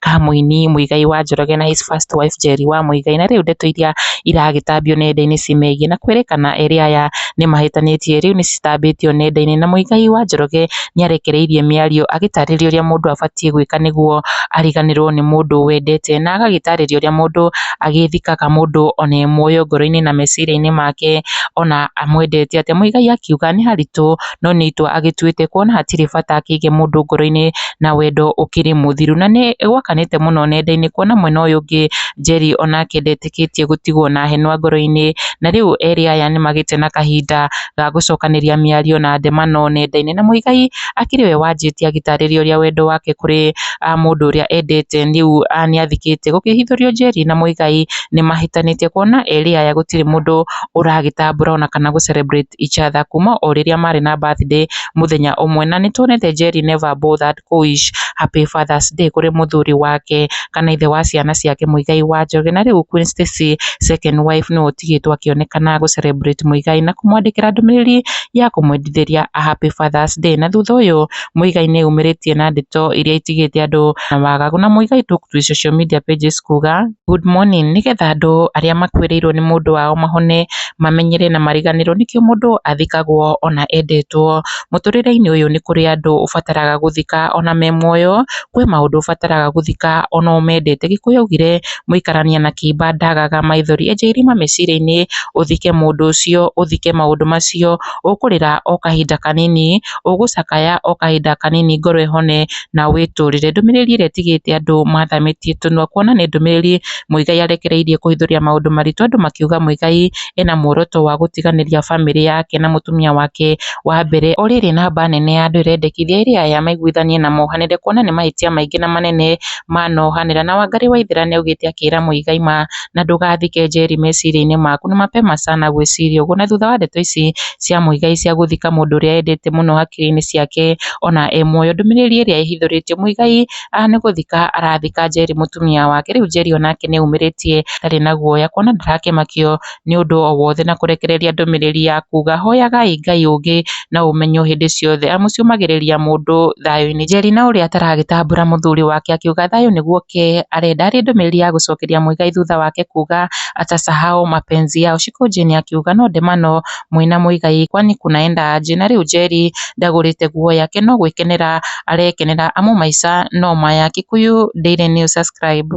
Kamũini, Muigai wa Njoroge na His First Wife Njeri wa Muigai, na rĩu ndeto iria iragĩtambio nenda-inĩ cimegiĩ na kwĩrĩkana erĩ aya nĩmahĩtanĩtie rĩu nĩcitambĩtio nenda-inĩ na Muigai wa Njoroge nĩarekereirie mĩario agĩtarĩria ũrĩa mũndũ abatiĩ gwĩka nĩguo ariganĩrwo nĩ mũndũ wendete na agagĩtarĩria ũrĩa mũndũ agĩthikaga mũndũ ona e muoyo ngoro-inĩ na meciria-inĩ make ona amwendete atĩa. Muigai akiuga nĩ haritũ. no nĩ itua agĩtuĩte kuona hatirĩ bata akĩige mũndũ ngoro-inĩ na wendo ũkĩrĩ mũthiru. Na nĩ gwakanĩte mũno nenda-inĩ kuona mwena ũyũ ũngĩ Njeri onake ndetĩkĩtie gũtigwo na henwa ngoro-inĩ, na rĩu erĩ aya nĩ magĩte na kahinda ga gũcokanĩria mĩario na ndemano nenda-inĩ. Na Muigai akĩrĩ we wanjĩtie agĩtarĩria ũrĩa wendo wake kũrĩ mũndũ ũrĩa endete rĩu nĩ athikĩte. Gũkĩhithũrio Njeri na Muigai nĩ mahĩtanĩtie kuona erĩ aya gũtirĩ mũndũ ũragĩtambũra ona kana gũ celebrate Icha Thakuma o rĩrĩa marĩ na birthday mũthenya ũmwe na nĩtuonete Njeri never bore that Koish happy father's day kũrĩ mũthuri wake kana ithe wa ciana ciake Muigai wa Njoroge na rĩu Queen Stacy second wife nĩwe ũtigĩtwo akĩonekana gũ celebrate Muigai na kũmwandĩkĩra ndũmĩrĩri ya kũmwendithĩria a happy father's day na thutha ũyũ Muigai nĩ eyumĩrĩtie na ndeto iria itigĩte andũ na wagagu na Muigai took to his social media pages kuuga, Good morning, nĩgetha andũ arĩa makuĩrĩirwo nĩ mũndũ wao mahone, mamenyere na mariganĩrwo nĩkĩo mũndũ athikagwo ona endetwo. Mũtũrĩre-inĩ ũyũ nĩ kũrĩ andũ ũbataraga gũthika ona me muoyo, kwĩ maũndũ ũbataraga gũthika ona ũmendete. Gĩkũyũ augire, Mũikarania na kĩimba ndagaga maithori. Enja irima meciria-inĩ ũthike mũndũ ũcio, ũthike maũndũ macio. ũkũrĩra o kahinda kanini, ũgũcakaya o kahinda kanini ngoro ĩhone na wĩtũrĩre. Ndũmĩrĩri ĩrĩa ĩtigĩte andũ mathamĩtie tũnua kuona nĩ ndũmĩrĩri Muigai arekereirie kũhithũria maũndũ maritũ andũ makiuga Muigai ena muoroto wa gũtiganĩria bamĩrĩ yake na mũtumia wake wa mbere o rĩrĩ namba nene ya andũ ĩrendekithia ĩrĩa aya maiguithanie na mohanĩre kuona nĩ mahĩtia maingĩ na manene manohanĩra. Na Wangari Waithera nĩaugĩte akĩra Muigai ma na ndũgathike Njeri meciria-inĩ maku. Nĩ mapema sana gwĩciria ũguo. Na thutha wa ndeto ici cia Muigai cia gũthika mũndũ ũrĩa endete mũno hakiri-inĩ ciake ona e muoyo, ndũmĩrĩri ĩrĩa ĩhithũrĩtio, Muigai nĩ gũthika arathika Njeri mũtumia wake. Rĩu Njeri onake nĩ aumĩrĩtie ndarĩ na guoya kuona ndarakĩmakio nĩ ũndũ o wothe na kũrekereria ndũmĩrĩri ya kuuga, Hoyagai Ngai ũngĩ. na ũmenyo hĩndĩ ciothe, amu ciũmagĩrĩria mũndũ thayũ-inĩ. Njeri na ũrĩa ataragĩtambũra mũthuri wake akiuga, Thayũ nĩguo ke arenda. Arĩ ndũmĩrĩri ya gũcokeria Muigai thutha wake kuuga, Atasahau mapenzi yao. Shiko Jane akiuga, No ndemano mwĩ na Muigai kwani kunaenda aje? Na rĩu Njeri ndagũrĩte nguo yake no gwĩkenera arekenera amu maica no maya. Kikuyu Daily News Subscribe.